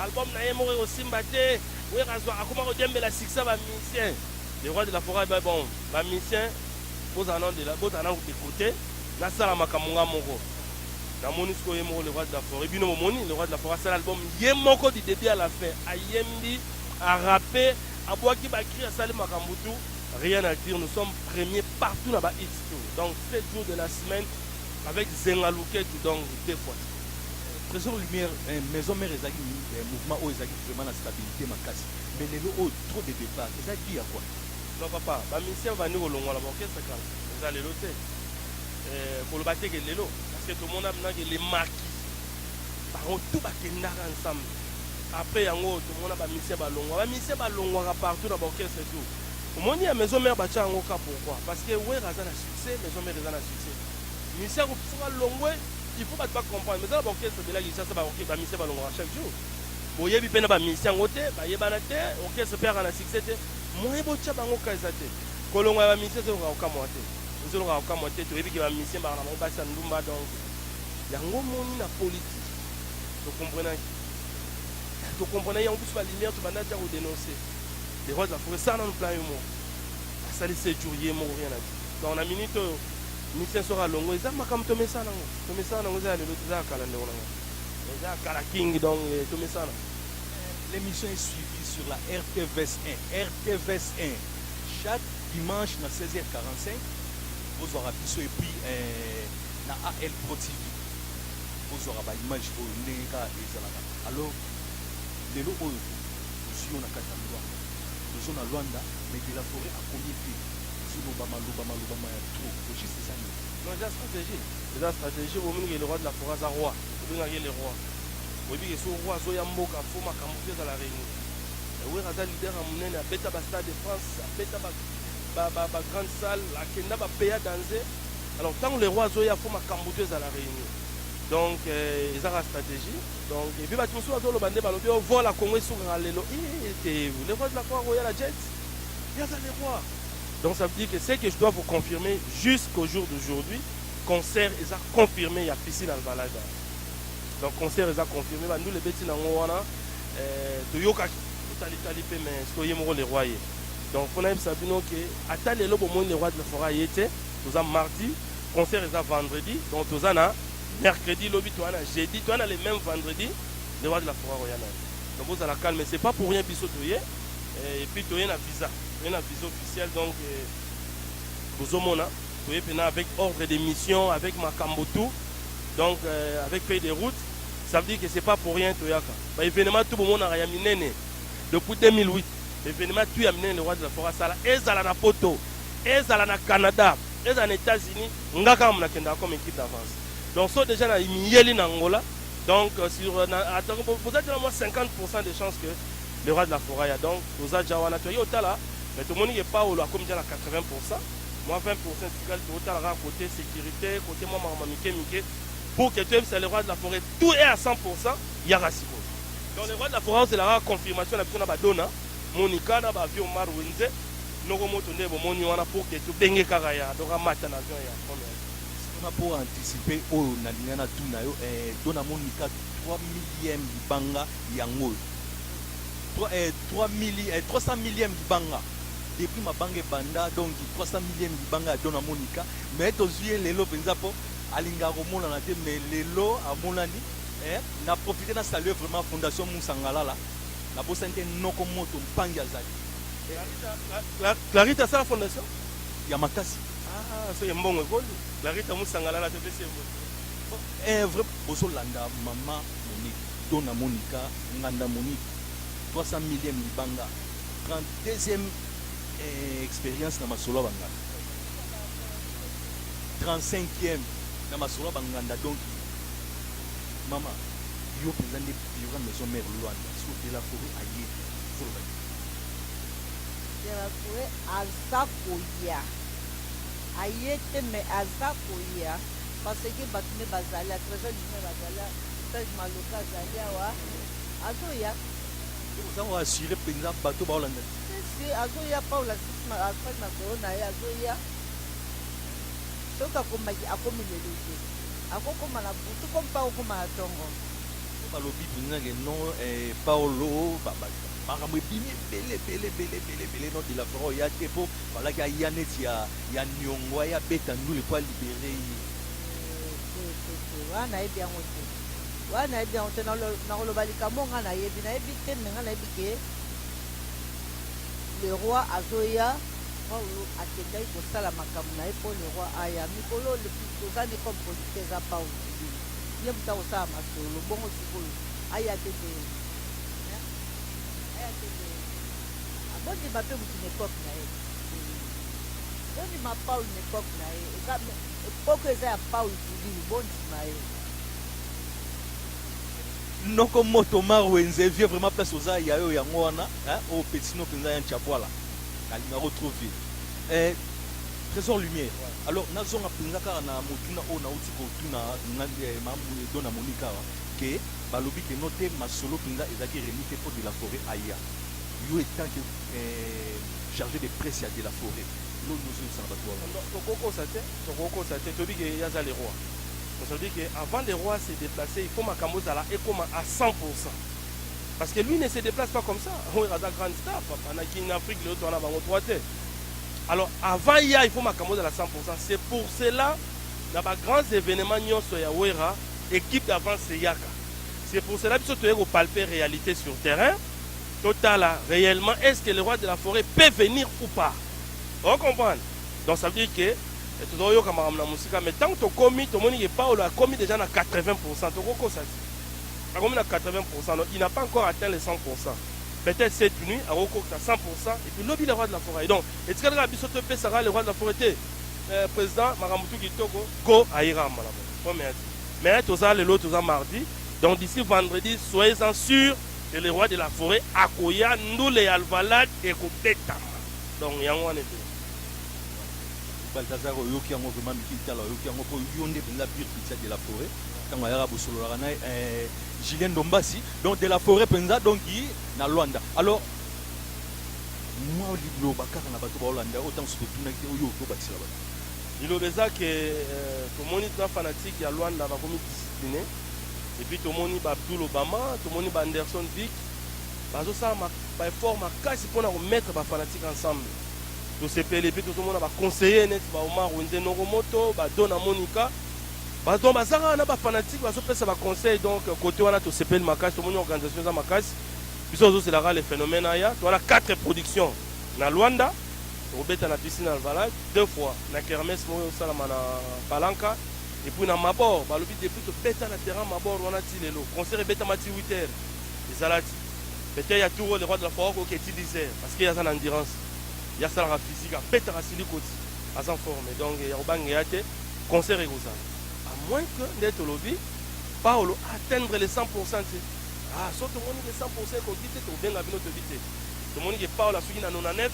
Album naye moko eko simba te. Werrason akoma ko diembela succès ya ba musiciens. Le roi de la foret mais bon ba musiciens bozala nanu de la bozala nanu de cote nasala makambo nga moko. Namoni sikoyo ye moko le roi de la foret bino bomoni le roi de la foret asali album ye moko du debut à la fin ayembi a rapper abuaki ba cris asali makambo tout rien à dire nous sommes premier partout na ba hits tout donc 7 jours de la semaine avec Zenga Luketu donc deux fois. Tresor lumière eh, maison mère ezalaki eh, mouvement oyo ezalaki vraiment na stabilité makasi mais lelo oyo oh, trop de départ eza qui ya quoi non papa ba musiciens bandi kolongwa na ba orchestre kala eza lelo te eh, koloba te ke lelo parce que tomona bina ke les marquis bango tout bakendaka ensemble après yango tomona ba musiciens balongwa ba musiciens balongwaka partout na ba orchestre tout omoni ya maison mère batya yango ka pourquoi parce que wera aza na succès maison mère eza na succès musicien akopesa balongwe Il faut batu ba comprendre mais eza na ba orchestre ebele ya Kinshasa ba orchestre ba musiciens balongwaka chaque jour boyebi pe na ba musiciens yango te bayebana te orchestre pe aka na succès te moyen botia bango ka eza te kolongwa ya ba musiciens ezolongaka kokamwa te ezolongaka kokamwa te toyebi ke ba musiciens baka na bango basi ya ndumba donc yango moni na politique tokomprenaki tokomprenaki yango biso ba lumière tobanda tia kodenonce les rois de la forêt sala nanu plan yo moko asali sejour ye moko rien na donc na minute oyo Musicien soki alongwe eza makambo tomesana yango tomesana yango eza ya lelo te eza ya kala ndeko na nga eza ya kala king donc eh, tomesana L'émission est suivie sur la RTVS 1. RTVS 1, chaque dimanche na 16h45, bozwaka biso et puis euh, na AL Pro TV, bozwaka ba image oyo ndenge kaka ezalaka. Alors, lelo oyo tozwi yo na kati ya Luanda, tozo na Luanda, mais de la forêt akomi te. Zoloba maloba maloba ma ya trop au juste eza nini? Non eza strategie eza strategie oyo omoni ke le roi de la foret aza roi obengaka ye le roi oyebi ke soki roi azoya mboka faut makambu tout ezala reuni mais werra aza leader ya munene abeta ba stade de France abeta ba ba ba ba grande salle akenda ba peya danze alors tangu le roi azoya faut makambu tout ezala reuni donc euh, eza ka strategie donc epuis batu mosusu bazoloba nde balobi o oh, vola congo esukaka lelo eh, te le roi de la foret akoya la jet Ye aza le roi. Donc ça veut dire que ce que je dois vous confirmer jusqu'au jour d'aujourd'hui, concert eza confirme ya Piscine Alvalaga. Donc concert eza confirme, ba ndule beti na ngo wana, euh, toyokaki, totali tali pe mais siko ye moko le roi ye. Donc pona yebisa bino que ata lelo bomoni le roi de la forêt ye te, toza mardi, concert eza vendredi, donc toza na mercredi lobi toza na jeudi, toza na le même vendredi, le roi de la forêt akoya na ye. Donc bozala calme, c'est pas pour rien biso toye. Eh, et puis toye na visa, toye na visa officiel donc eh, bozomona toye pena avec ordre de mission, avec makambo tout donc eh, avec feuille de route ça veut dire que c'est pas pour rien toyaka ba événement tout bomonaka ya minene depuis 2008 événement tout ya minene le roi de la forêt asala ezala na poto ezala na canada ezala na états-unis nga kaka monakendaka comme équipe d'avance donc so déjà na miyeli na angola donc euh, sur euh, na- atako bo- boza tena mwa 50 de chance que Le roi de la foret ya donc toza dja wana toye otala mais tomoni ke paolo akomi dja na 80 pourcent mwa 20 pourcent etikali tokotala kaka cote securite cote mwa makambo ya mike mike pour ke toyebisa le roi de la foret tout est à 100 pourcent yaka sikoyo donc le roi de la foret ozela kaka confirmation na biso na ba dona monica na ba vieux omar wenze noko moto nde bomoni wana pour ke tobenge kaka ya donc amata na avion ya première Wana po anticiper oyo nalinga na tuna yo eh, dona monica 3 millième libanga Yango oyo trois eh trois milli eh trois cent millième libanga depuis mabanga ebanda donc trois cent millième libanga ya Dona Monica mais tozui ye lelo penza po alingaka komonana te mais lelo amonani eh na profiter na saluer vraiment fondation Musa Ngalala nabosani te Noko Moto Mpangi azali Clarita asala fondation? ya makasi. Ah soki mbongo ekoli Clarita Musa Ngalala topesi ye mbote. Eh vrai bozolanda maman Monique. Don na Monica nganda Monique 300 millième libanga 30 deuxième eeh experience na masolo ya ba nganda 35 ième na masolo ya ba nganda donc maman yo penza nde biura maison mère Luanda sur de la foret aye koloba nini? De la foret aza koya aye te mais aza koya parce que batu nde bazali a travers du nez bazali Serge Maloka azali awa azoya. Oza ko assurer penza bato ba olanda te. Si si azoya Paula Sisma afandi na solo na ye azoya. Soki akomaki akomi lelo te. Akokoma na butu comme pa akokoma na tongo. Po balobi penza ke non eh, Paolo ba ba makambo ebimi ebele ebele ebele ebele ebele non Dilaforent oya te po falaki aya neti ya ya Niongo aya abeta ndule po a liberer ye. Te te te wana nayebi yango te wana nayebi yango te nakoloba likambo oyo ngai nayebi nayebi te me ngai nayebi ke le roi azoya paulo akendaki kosala makambo na ye mpo le roi aya mikolo tozali comme politika eza paulo kibini ye moto akosala masolo bongo sikoyo aya te te aya te te abondima mpe moto na epoke na ye bondima paulo na epoke na ye Epoko eza ya paul tudilu bondima ye. Noko moto omar wenze vieux vraiment place oza ya yo yango wana hein oyo petit no penza yan tshabuala nalingako trop vieux eh, tresor lumière alors nazonga penza kaka na motuna oyo nauti kotuna na eh, ma do na moni kaka ke balobi ke no te masolo penza ezalaki remi te po de la forêt aya yo etant que eh, chargé de presse ya de la forêt eloko liboso yebisa na batu wana. Non toko kosa te toko kosa te toyebi ke ye aza le roi mais ça veut dire ke avant le roi se deplacer il faut makambo ezala ekoma à 100 pourcent parce que lui ne se deplace pas comme ça werra aza grande star papa na kin afrique lelo toza na bango trois te alors avant ya il faut makambo ezala 100 pourcent c'est pour cela na ba grands événements nyonso ya werra équipe d'avance eyaka c'est pour cela biso toye ko palper réalité sur terrain To tala reellement est ce que le roi de la foret peut venir ou pas? O comprendre? Donc ça veut dire que eh, tozo yoka makambo na musika mais tango tokomi tomoni que Paulo akomi déjà na 80%, toko kosa ti. Akomi na 80%, donc il n'a pas encore atteint les 100%. Peut-être cette nuit ako kokta 100% et puis lobi le roi de la foret. Donc etikali kaka biso topesa kaka le roi de la foret te. Eh, président makambo tu kitoko go ayira malamu. Bon merci. Mais toza lelo toza mardi. Donc d'ici vendredi soyez-en sûr que le roi de la foret akoya ndule ya alvalad ekobetama donc yango wana ebele. Balthazar oyoki yango vraiment mikili tala oyoki yango po yo nde penza pure Christian de la foret tango ayaka bosololaka na eh, Julien Ndombasi donc de la foret penza donc na Luanda alors mwa liloba kaka na bato baolanda oyo ntango soki totunaki te oyo tobakisela bato liloba eza ke euh, tomoni tuna fanatique ya Luanda bakomi discipline Et puis tomoni ba Abdoul Obama, tomoni ba Anderson Vick bazo sala ma, ba effort makasi pona ko mettre ba fanatiques ensemble. Tosepeli et puis tozo mona ba conseillers neti ba Omar Wenze Noko Moto, ba Dona Monica, ba donc baza kaka na ba fanatiques bazo pesa ba conseils donc cote wana tosepeli makasi tomoni organisation eza makasi. Biso tozo zela kaka le phenomène aya. Toza na quatre productions na Luanda, toko beta na Piscine Alvalade deux fois, na kermesse moko ezo salama na Palanca, Et puis na mabor balobi depuis tobeta na terrain mabor wana ti lelo concert ebetama ti huit heures ezala ti Peter ya Turo le roi de la foire akoke ti dix heures parce que ye aza na endurance ye asalaka physique abetaka siliko ti aza en forme donc ya kobangeya te concert ekozala à moins que nde tolobi Paolo a atteindre le 100 pourcent te ah soki tomoni ke 100 pourcent ekoki te tokobenga bino toyebi te tomoni ke Paolo asuki na 99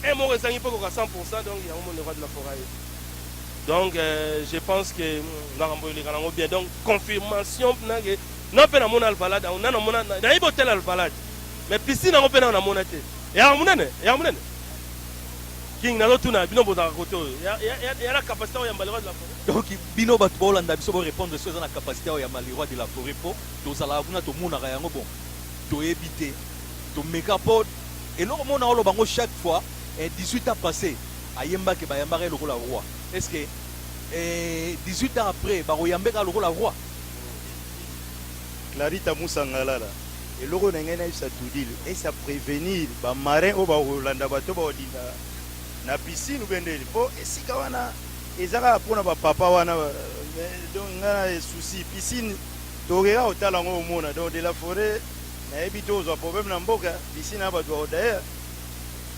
un moko ezangi mpe ekoka 100 pourcent donc yango moni le roi de la foire aye Donc je pense que makambo eleka nango bien donc confirmation na ke na mpe namona alvalade yango na namona nayebi hotel alvalade mais piscine yango mpe nao namona te eyaka monene eyaka monene king nazotuna bino bozalaka kote oyo ya na capacité oyo ya mbaliroi de la forêt donc bino bato baolanda biso borépondre soki eza na capacité oyo ya mbaliroi de la forêt mpo tozalaka kuna tomonaka yango bon toyebi te tomeka mpo eloko mona oloba yango chaque fois 18 eh, ans passé ayembake bayambaka ye lokola roi est ce que eh, 18 ans après bakoyambe kaka lokola roi clarita musangalala eloko na ngai nayebisa tudil esa prevenir bamarin oyo bakolanda bato bakolinda na piscine ubendeli mpo esika wana eza kaka mpona bapapa wana donc ngai na esusi piscine tokeka kotala yango omona donc de la foret nayebi te ozwa problème na mboka piscine ya bato bakodayer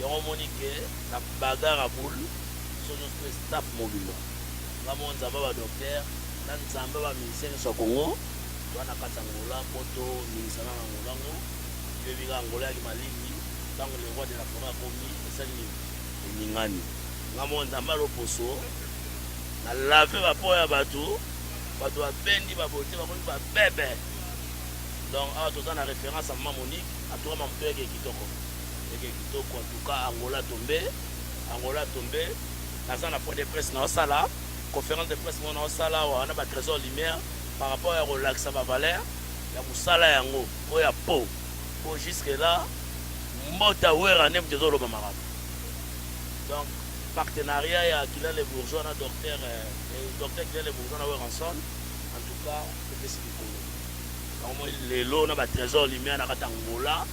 Yango omoni que na bagarre ya boule biso nionso pe staff mobimba nga moko nzambe ya ba docteur na nzambe ya ba musicien nionso ya congo toza na kati ya angola po to ningisana na angola ngo toyebi kaka angola eyaki malili tango le roi de la foret akomi esali nini eningani nga moko nzambe ya loposo na lave ba po ya batu batu ba bendi ba beaute bakomi ba bebe donc awa toza na reference ya mama monique atukama mutu yake kitoko. Ndenge kitoko en tout cas Angola tombe Angola tombe naza na point de presse na osala conference de presse moko na osala awa na ba tresor lumière par rapport ya kolakisa ba valeur ya musala yango oyo ya po po jusque là mbota werra nde mutu ezoloba makambo donc partenariat ya Guylain le bourgeois na docteur docteur Guylain le bourgeois na Werrason en tout cas epesi likolo bango moi lelo na ba tresor lumière na kati Angola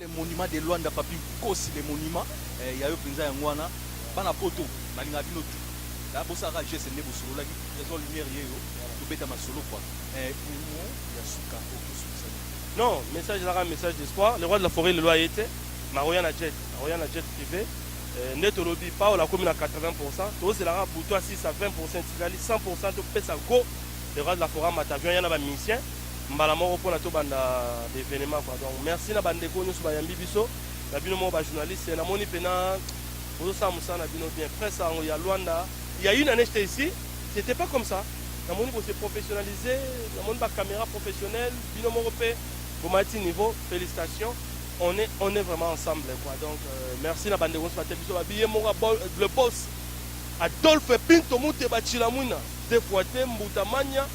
Le monument de Luanda papy nkosi le monument eh, ya yo mpenza yango wana bana poto nalingaka bino tu la bosalaka geste nde bosololaki trésor lumière yeyo tobeta masolo kwa eh, humo ya suka okosukisa nini Non, message naka message d'espoir. Le roi de la forêt lelo aye te, maroya na jet, aroya na jet privé. Euh, nde tolobi Paul akomi na 80%, tozela kaka butu asisa 20% etikali 100% topesa go. Le roi de la forêt amata avion ya na ba musiciens. mbala moko pona tobanda ba evenements quoi donc merci na ba ndeko nioso bayambi biso na bino moko ba journaliste na moni pena bozosala mosala na bino bien presse yango ya Luanda Il y a une année, j'étais ici, c'était pas comme ça. Dans mon niveau, c'est professionnalisé, dans mon niveau, caméra professionnelle, binôme européen, au matin niveau, félicitations. On est, on est vraiment ensemble, quoi. Donc, euh, merci la bande de Gonzalo Tébiso, Babiye Mora, le boss, Adolphe Pinto, Moute, Bachilamuna, Defuate, Mbutamania,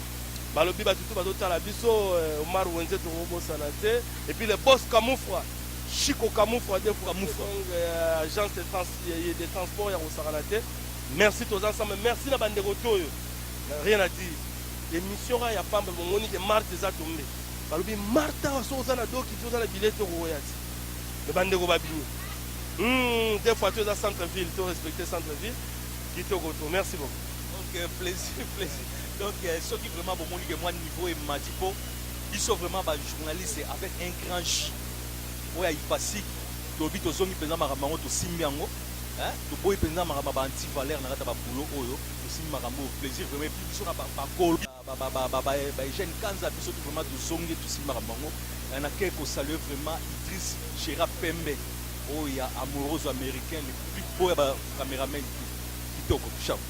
Balobi batu tout bazo tala biso eh, Omar Wenze toko bosana te et puis le boss Kamufra Chico Kamufra de Kamufra eh, agence de trans eh, de transport ya kosakana te merci toza ensemble merci na bande kotoyo rien à dire émission ka ya pamba bongoni ke Marthe eza tombe balobi Martha wa soza na doki toza na billet toko ya ti mais bande ko babini hmm des fois toza centre ville to respecter centre ville kitoko to merci beaucoup donc euh, plaisir plaisir Donc soki vraiment bomoni ke mwa niveau emati po biso vraiment ba journaliste avec un grand J oyo ya Ipasic tolobi tozongi penza makambo yango tosimbi yango hein toboyi penza makambo ya ba anti valeur na kati ya ba boulot oyo tosimbi makambo oyo plaisir vraiment epuis biso na ba bakolo ba Eugène Kanza biso tout vraiment tozongi tosimbi makambo yango na ke ko saluer vraiment Idriss Gera Pembe oyo ya Amoroso Americain le plus beau ya ba cameraman tout kitoko ciao.